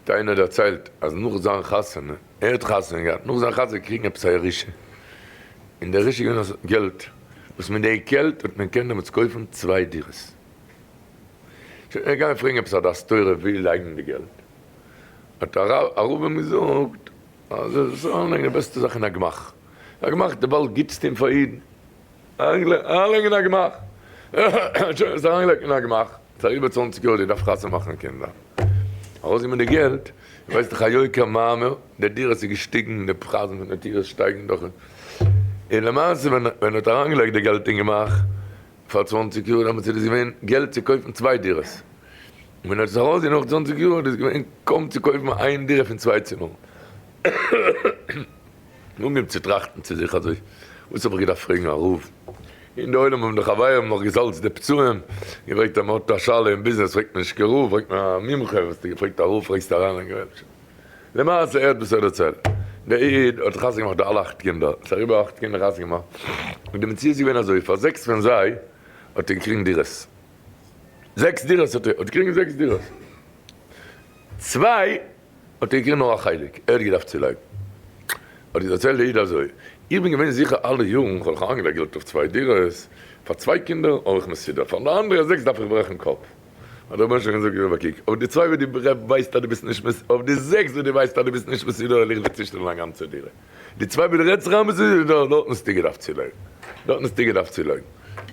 האט איינער דערציילט אז נאך זיין חתונה, ער האט חתונה געהאט, נאך זיין חתונה געקריגן עפעס א ירושה, און די ירושה איז געווען אז געלט, וואס מיט די געלט האט מען קענען דעמאלטס קויפן צוויי דירות. שוין ער גייען פרעגן עפעס א דעת תורה וואו לייגן די געלט, האט א רב אים געזאגט אז ער זאל אריינלייגן די בעסטע זאך אין א גמח, א גמח איז די באלד גוטסטע אין פאר אידן, אריינגעלייגט אין א גמח. שוין עס אריינגעלייגט אין א גמח. ס'איז אריבער צוואנציג יאר די דארפסט חתונה מאכן קינדער. ארויסגעבן די געלט. ווייסט דאך א יוקר מאמר. די דירות איז געשטיגן די פרייזן פון די דירות שטייגן דאך. און למעשה ווען מען האט אריינגעלייגט די געלט אין גמח פאר צוואנציג יאר דעמאלטס איז דאס געווען געלט צו קויפן צוויי דירות. און מען האט עס ארויסגעגעבן נאך צוואנציג יאר איז דאס געווען קוים צו קויפן איין דירה פון צוויי צימערן. לאמיר צוטראכטן צו זיך אזוי, וואס האב איך געדארפט פרעגן א רב? אין די עולם האבן די חברים נאך געזאלצט די פצעים, געפרעגט אז מען האט א שאלה אין ביזנעס פרעגט מען נישט קיין רב, פרעגט מען א מומחה, וואס האסטו געפרעגט א רב פרעגסטו אריין אין גרעבטשער. למעשה ער'ט וואס ער דערציילט, דער איד האט חתונה געמאכט די אלע אכט קינדער, ס'איז אריבער אכט קינדער חתונה געמאכט, און די מציאות איז געווען אזוי, פאר זעקס פון זיי האט ער געקריגן דירות, זעקס דירות האט ער האט געקריגן זעקס דירות, צוויי. האט ער געקריגן נאר א חלק, ער האט געדארפט צולייגן. האט ער דערציילט דער איד אזוי, איך בין געווען זיכער אלע יארן, כ'האב דאך אריינגעלייגט געלט אויף צוויי דירות, פאר צוויי קינדער האב איך מסודר, פאר די אנדערע זעקס דארף איך ברעכן קאפ. האט דער רבונו של עולם געזאגט, רבע קוק, אויף די צוויי וואס דו ווייסט אז דו ביסט נישט מסודר, אויף די זעקס וואס דו ווייסט אז דו ביסט נישט מסודר וועל איך דיר צושטעלן א גאנצע דירה. די צוויי וואס דו רעדסט זיך איין ביסט נישט מסודר, דארטן האסטו געדארפט צולייגן. דארטן האסטו געדארפט צולייגן.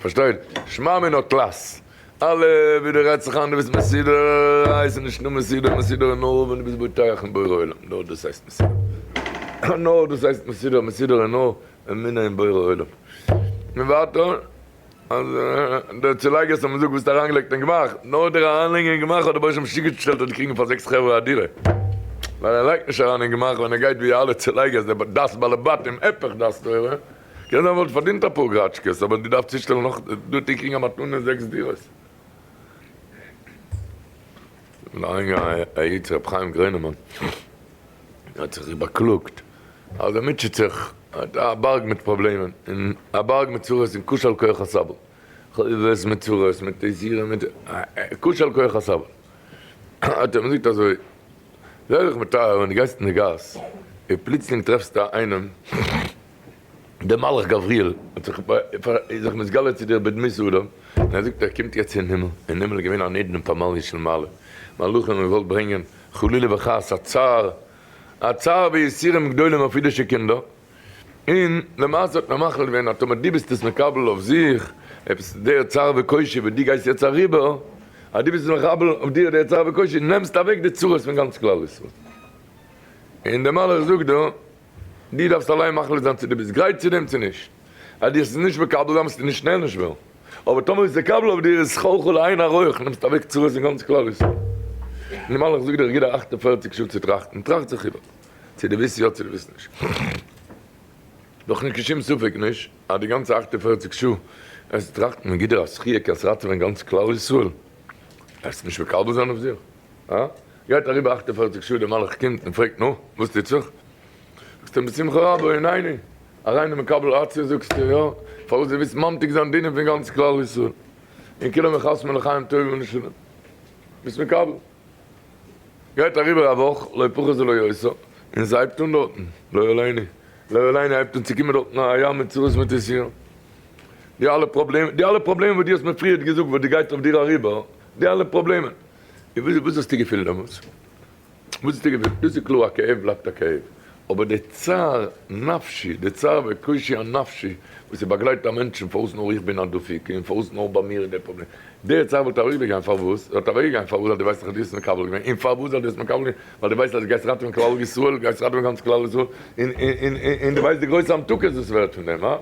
פארשטייט? שמע מינות לס. אלע ווי דו רעדסט זיך איין דו ביסט מסודר, איי ס'איז נישט נאר מסודר, מסודר איז נאר ווען דו ביסט בוטח אין בורא עולם, נאר דאס הייסט מסודר, נאר דאס הייסט מסודר, מסודר איז נאר אמונה אין בורא עולם, און ווייטער אז די צולייגערס האבן געזאגט וואס האסט אריינגעלייגט אין גמח, נאר דער אריינלייגער אין גמח האט דער בעשט משוגע געשטעלט אז די קריגן פאר זעקס חברה א דירה, ווייל ער לייגט נישט אריין אין גמח ווען ער גייט ווי אלע צולייגערס דער דעת בעלי בתים הפך דעת תורה. קען זיין וואלט פארדינט אפאר גראטשקעס אבער דו דארפסט צושטעלן נאך דו טעג קריגן א מתנה זעקס דירות. לאנגע העיט ר' חיים גרינעמאן האט זיך זיך באקלאגט אז ער מוטשעט זיך האט א בארג מיט פראבלעמען און א בארג מיט צרות און קושיא על כוח הסבל חובות מיט צרות מיט טעזירען מיט קושיא על כוח הסבל האט ער אים געזאגט אזוי זיי זיך מטהר ווען דו גייסט אין די גאס און פלוצלינג טרעפסטו איינעם. דער מלאך גבריאל האט זיך איז זיך מתגלה צו דיר בדמות אדם, און ער זאגט ער קומט יעצט אין הימל, אין הימל איז געווען אן עדן פאר מעליה של מעלה, מלאכים האבן געוואלט ברענגען חלילה וחס א צער, א צער ויסורים גדולים אויף אידישע קינדער, און למעשה האט מען מחליט געווען אז טאמער דו ביסט עס מקבל אויף זיך, עפעס דער צער וקושי וואס דו גייסט יעצט אריבער, אז דו ביסט עס מקבל אויף דיר דער צער וקושי, נעמסטו אוועק די צרות פון גאנץ כלל ישראל, און דער מלאך זאגט דא. דו דארפסט אליין מחליט זיין צו דו ביסט גרייט צו דעם צו נישט. אז דו האסט עס נישט מקבל זיין וועסטו נישט שנעל נישט וועלן, אבער טאמער איז מקובל אויף דיר איז כל כולו עין הרע, נעמסט אוועק צרות אין גאנץ כלל ישראל. נארמאל איך זאג דיר איך גיב דיר אַכט און פֿערציק שעה צו טראכטן, טראכט זיך איבער צו דו ווילסט יא צו דו ווילסט נישט. דאך נישט קיין שום ספק נישט אז די גאנצע אַכט און פֿערציק שעה וועסטו טראכטן, מען גיט דיר א זכיה קענסט ראטעווען גאנץ כלל ישראל, וועסטו נישט מקבל זיין אויף זיך. אה? גייט אריבער אַכט און פֿערציק שעה, דער מלאך קומט און פרעגט, נו, וואס טוט זיך? זאגסט אים, בשמחה רבה, הנני, אריין אין מקבל א צ, זאגסט אים, יא, פארוואס דו ווילסט ממתיק זיין דינים פון גאנץ כלל ישראל, און כולם יחסמו לחיים טובים ולשלום, ביסט מקבל. גייט אריבער א וואך, לא פחות ולא יותר, און עס הייבט אן דארטן, לא עליני, לא עליני, הייבט אן צו קומען דארטן א ים מיט צרות מיט איסורים, די אלע פראבלעמען, די אלע פראבלעמען וואס דו האסט מיר פריערט געזאגט וואס דאס גייט אויף דיר אריבער, די אלע פראבלעמען. וואס וואס האסטו געפילט דעמאלטס? וואס האסטו געפילט? דאס איז קלאר א כאב בלייבט א כאב, אבער די צער נפשי, די צער וקושי הנפשי וואס איז באגלייט א מענטש און פארוואס נאר איך בין א דפיקה און פארוואס נאר ביי מיר איז דער פראבלעם, די צער וואלט אוועקגעגאנגען פארוואס? זי וואלט אוועקגעגאנגען פארוואס אז דו ווייסט אז דו האסט מקבל געווען און פארוואס אז דו האסט מקבל געווען ווייל דו ווייסט אז דו גייסט ראטעווען כלל ישראל, גייסט ראטעווען גאנץ כלל ישראל און און און דו ווייסט די גרויסע המתקות וואס ווערט פון דעם, הא?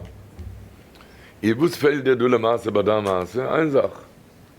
איז וואס פעלט דיר דא למעשה ביי דיין מעשה? איין זאך.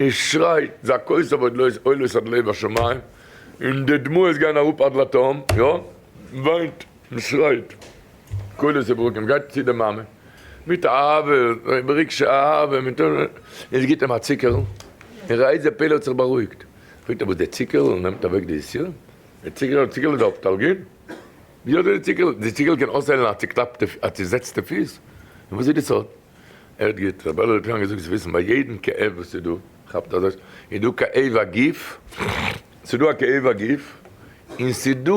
און שרייט זעקות אויף ועוד לויז עולות עד לב השמים, און די דמעות גייען אראפ עד לתהום, יא, מען וויינט, מען שרייט קולות וברקים, מען גייט צו די מאמע מיט אהבה, ברגשי אהבה, מען טוט, און זי גיבט אים א צוקערל, און ר' אייזיק פעלער האט זיך בארואיגט, פרעגט ער וואס די צוקערל נעמט אוועק די יסורים? די צוקערל, די צוקערל איז די אפטאלגין? ווי אזוי די צוקערל? די צוקערל קען אויסהיילן א צוקלאפטע, א צוזעצטע פיס? און וואס איז די סוד? הערט גוט, רבי אלעזר קליין האט געזאגט זיי וויסן ביי יעדן כאב וואס איז דא, כאפט אזוי, איז דא כאב הגוף, ס'איז דא א כאב הגוף, און ס'איז דא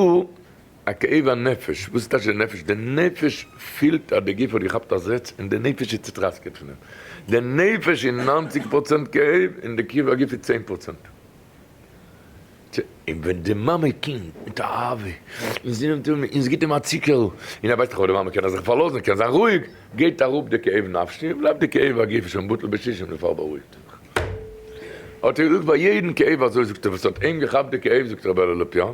א כאב הנפש, וואס איז טאש די נפש? די נפש פילט אז די גוף האט געכאפט א זעץ און די נפש איז צוטראסקעט פון דעם, די נפש איז נײַנציק פראצענט כאב און די כאב הגוף איז צען פראצענט. צו און ווען די מאמע קומט מיט א אהבה און זי נעמט אים און זי גיט אים א ציקערל און ער ווייסט איך אויף די מאמע קען ער זיך פארלאזן קען זיין רואיג גייט אראפ די כאב נפשי און בלייבט די כאב הגוף שוין בטל בשישים די פאר בארואיגט ער זיך האט ער געזאגט פאר יעדן כאב אזוי זאגט ער וואס האט אים געכאפט די כאב זאגט ר' בערל לופיאן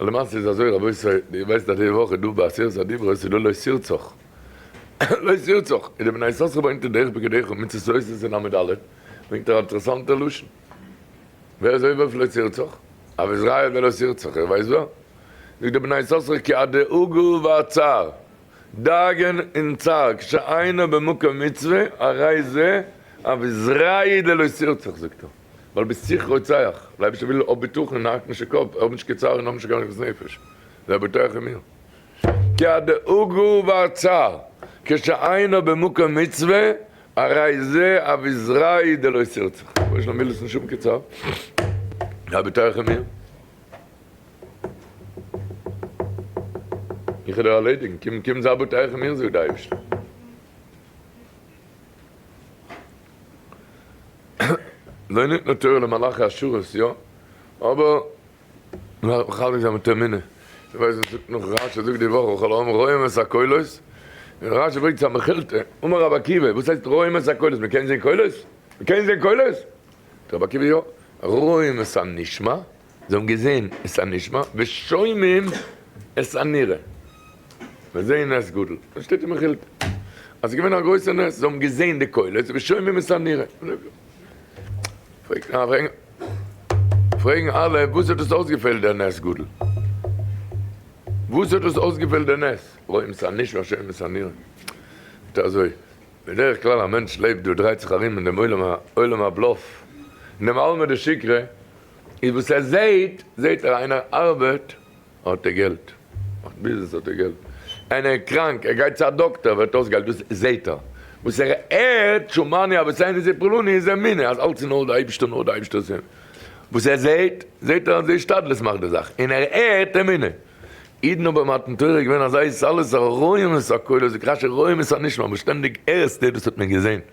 למעשה איז אזוי רבותי, ווי איר ווייסט אז די וואך איז דא ביי עשרת הדיברות איז דא לא שירצוך, לא שירצוך, איז די בני יששכר באוינט אין דרך בגדיך און מצות עושה איז אין עמוד א', ברענגט ער א אינטערעסאנטע לשון, ווער איז עובר אויף לא שירצוך? אויף איז ראיה ווער לא שירצוך, איר ווייסט ווער? זאגט די בני יששכר כי הדאגה והצער, דאגה'ן און צער, כשאינו במקום מצוה, הרי זה אויף איז ראיה דלא שירצוך זאגט ער. ווייל ביסט זיך רוצח, דער אייבערשטער וויל האב בטחון און האקן נישט די קאפ, האב נישט קיין צער און האב נישט קיין עגמת נפש, זיי בטוח אין מיר. כי הדאגה והצער כשאינו במקום מצוה הרי זה אביזרייהו דלא סירצך, דער בורא שלום וויל דאס נישט האבן קיין צער, זיי בטוח אין מיר, איך וועל דיר ארלעדיגן, קום קום זיי בטוח אין מיר זאגט דער אייבערשטער. זיי ניתנה תורה למלאכי השרת, יא, אבער מ'דארף מחזק זיין מיט אמונה, דו ווייסט וואס זאגט נאך רש י זאגט די וואך וכל העם רואים את הקולות, און רש י ברענגט צו א מכילתא, אמר רבי עקיבא, וואס הייסט רואים את הקולות, מ'קען זען קולות? מ'קען זען קולות? זאגט רבי עקיבא, יא, רואים את הנשמע, זיי האבן געזען את הנשמע ושומעים את הנראה. זיי זעען נס גדול. דאס שטייט אין מכילתא. אז עס איז געווען א גרויסע נס, זיי האבן געזען די קולות ושומעים את הנראה. פרעגן אלע, וואס האט דאס אויסגעפעלט דער נס גדול? וואס האט דאס אויסגעפעלט דער נס? רואים את הנשמע שומעים את הנראה. זאגט ער אזוי, בדרך כלל א מענטש לעבט דא, דרייט זיך ארום אין דעם עולם הבלאף, אין דעם עלמא דשיקרא, איז וואס ער זעהט, זעהט ער איינער ארבעט האט ער געלט, מאכט ביזנעס האט ער געלט, איינער איז קראנק ער גייט צו א דאקטער ווערט אויס געהיילט, דאס זעהט ער, וואס ער הערט שומעני אבות אין איזה פלוני איז אמונה אז אלץ איז נאר די אייבישטער נאר די אייבישטער איז אמונה, וואס ער זעהט, זעהט ער אז די השתדלות מאכט די זאך, און ער הערט אמונה, אידן האבן ביי מתן תורה געווען אזוי סאליס א רואים את הקולות, די קדשי רואים את הנשמע, וואס שטענדיג הערסטו דאס האט מען געזעהן.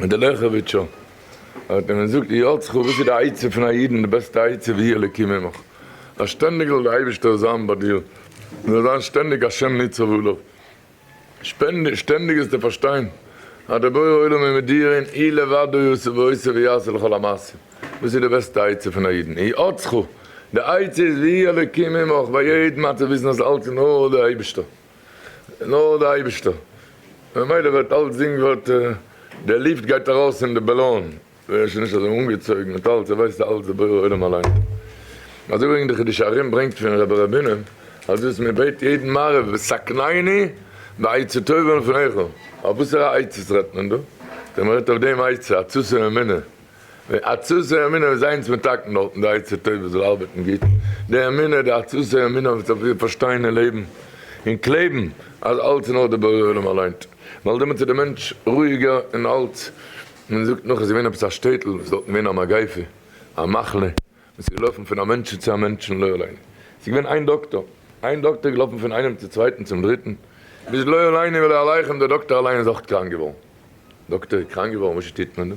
און דער לעכעוויטשער האט אים געזאגט, יאר צחוק, וואס איז די עצה פון א אידן, די בעסטע עצה ויהי אלקי ממך, אז שטענדיג זאל דער אייבערשטער זיין ביי דיר, דו זאלסט זיין שטענדיג השם ניצב עליו, שטענדיג זאלסטו פארשטיין אז דער בורא עולם איז מיט דיר, און הוא לבדו יעשה ועושה ויעשה לכל המעשים, דאס איז די בעסטע עצה פון א אידן, יאר צחוק, די עצה איז ויהי אלקי ממך, ביי יעדן מצב וויסן אז אלץ אין ארדער, אייבערשטער. נאר דער אייבישטער, ממילא ווערט אלץ זינג ווערט די ליפט גייט ארויס אין די בעלאן, ווער שוין נישט אזוי אנגעצויגן מיט אלץ, ער ווייסט אלץ די בורא עולם אליין, אזוי ברענגט די חידושי הרי ם ברענגט פון רבי רבינו אז דאס מען בעט יעדן מעריב וסקנאיני בעצה טובה לפניך, אויף וואסערע עצות רעדט מען דא? דער מען רעדט אויף דעם עצה עצות האמונה עצתו ימינו איז איינס מתקן דארטן די עצה טובה זאל ארבעטן גוט, די אמונה די עצתו ימינו וועט אויף איר פארשטיין און לעבן און קלעבן אז אלץ איז נאר די בורא עולם אליין ווייל דעמאלטס איז די מענטש רואיגער און אלץ. מען זאגט נאך עס איז געווען עפעס א שטעטל וואס איז דארטן געווען א מגיפה א מחלה און ס'איז געלויפן פון א מענטשן צו א מענטשן, לא עלינו ס'איז געווען איין דאקטאר, איין דאקטאר איז געלאפן פון איינעם צו צווייטן צום דריטן, ביז לא עלינו ולא עליכם דער דאקטאר אליין איז אויך קראנק געווארן. דאקטאר איז קראנק געווארן, וואסזשע טוט מען דא?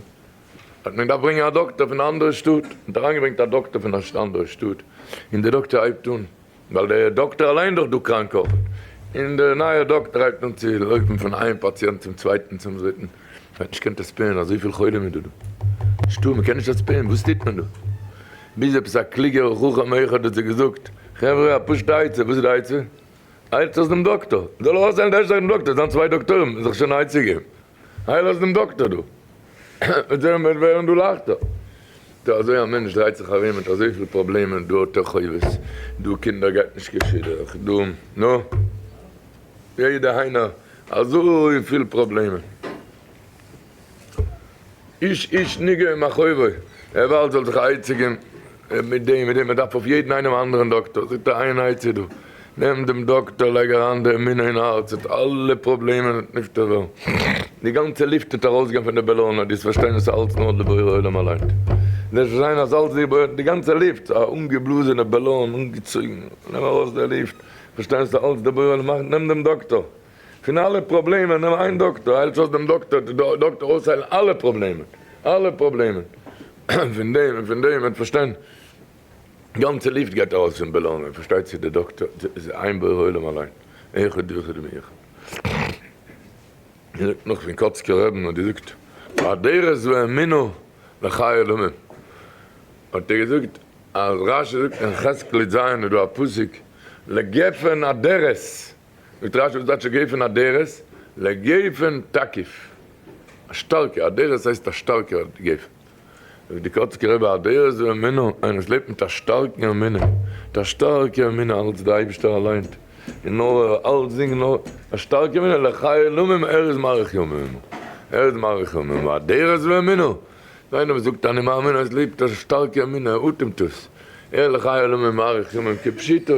האט מען געדארפט ברענגען א דאקטאר פון א אנדערע שטאט, מ'האט אריינגעברענגט א דאקטאר פון א אנדערע שטאט, און דער דאקטאר הייבט אן ווייל דער דאקטער אליין איז דאך דא קראנק אויך, און דער נייער דאקטער הייבט אן צו לויפן פון איין פאציענט צום צווייטן צום דריטן, מען האט נישט קענט עספען אזויפיל חולים איז דא דא, נישטא מען קען נישט עספען וואס טוט מען דא, ביז עפעס א קלוגער חכם אחד האט זיי געזאגט, חברה א פשוטע עצה, וואס איז די עצה? איילטס אויס דעם דאקטער, זאל ער אויסאיילן די ערשטע זאך דעם דאקטער, עס זיין צוויי דאקטורים איז דאך שוין א עצה געבן. איי לאז דעם דאקטער דא. וועט זען וועט ווערן דא לייכטער. טא אזוי א מענטש דרייט זיך ארום מיט אזויפיל פראבלעמען, דא האט ער חובות, דא קינדער גייט נישט קיין שידוך, דא נו. יעדע היינער אזויפיל פראבלעמען. איש איש ניגע עם החובות, ער ווארט זאל זיך א עצה געבן, און מיט דעם, מיט דעם, מען דארף אויף יעדן איינעם א אנדערן דאקטאר, זאגט ער, איין עצה דא, נעם דעם דאקטאר, לייג אריין די אמונה אין הארץ, וועט אלע פראבלעמען וועט נפטר ווערן, די גאנצע לופט וועט ארויסגיין פון די בעלאנען, דו וועסט פארשטיין אז עס איז אלץ נאר די בורא עולם אליין, דו וועסט פארשטיין אז אלץ די בורא, די גאנצע לופט איז א אנגעבלאזענע בעלאן, אנגעצויגן, נעם ארויס די לופט, וועסט פארשטיין אז עס איז אלץ די בורא עולם מאכט, נעם דעם דאקטאר. פון אלע פראבלעמען נעם איין דאקטאר היילט אויס דעם דאקטאר טוט די דאקטאר אויסהיילן אלע פראבלעמען אלע פראבלעמען פון דעם און פון דעם וועט פארשטיין גאנצע לופט גייט ארויס פון בעלאנען און פארשטייט צו די דאקטאר איז איין בורא עולם אליין אחד ויחיד מי אחד מ'זאגט נאך פון קאצקער רעבען האט געזאגט הדרת ואמינא לחיי עולמים האט ער געזאגט אז רשי זאגט אין חזקלי ז איז דא א פסוק לגפן הדרת זאגט רשי וואס דייטש געפען אדרת? לגפן תקיף, א שטארקע, אדרת הייסט א שטארקע גפן. זאגט די קאצקער רבי אדרת ואמונה, איינער וואס לעבט מיט א שטארקן אמונה, מיט א שטארקע אמונה אלץ דער אייבישטער אליין, און נאר ער, אלץ זינגען נאר א שטארקע אמונה, לחיי עולמים, ער איז מאריך ימים, ער איז מאריך ימים, ואדרת ואמונה, איז איינער וואס זאגט אני מאמין, ער איז לעבט א שטארקע אמונה, ער אטעמט עס, ער לחיי עולמים מאריך ימים כפשוטו.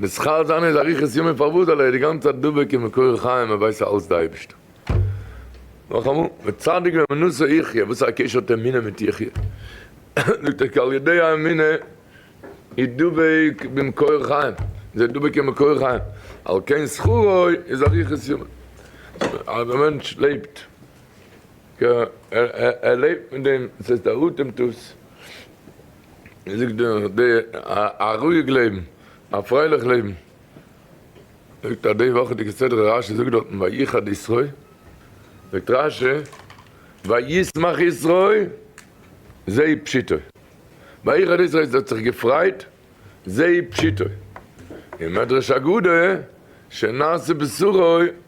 נשכר זיין איז אריכות ימים פאר וואס? ווייל ער איז די גאנצע צייט דבוק און מקור חיים און ווייסט אז אלעס איז די אייבערשטער. נאכאמאל, וצדיק באמונתו יחיה, וואס איז א קשר האט אמונה מיט יחיה? זאגט ער כי על ידי האמונה איז דבוק במקור חיים, זיי איז דבוק אין מקור חיים, על כן שכרו איז אריכות ימים. אז א מענטש לעבט, ער לעבט מיט דעם, דאס הייסט ער אטעמט עס. מען זאגט דא די א רואיג לעבן, א פרייליך לעבן, זאגט א די וואכעדיגע סדרה רשי זאגט דארטן ויחד ישרא', זאגט רשי וישמח ישרא' זיי פשיטא, ויחד ישרא' זיי האט זיך געפרייט זיי פשיטא, אין מדרש אגדה שנעשה בשרו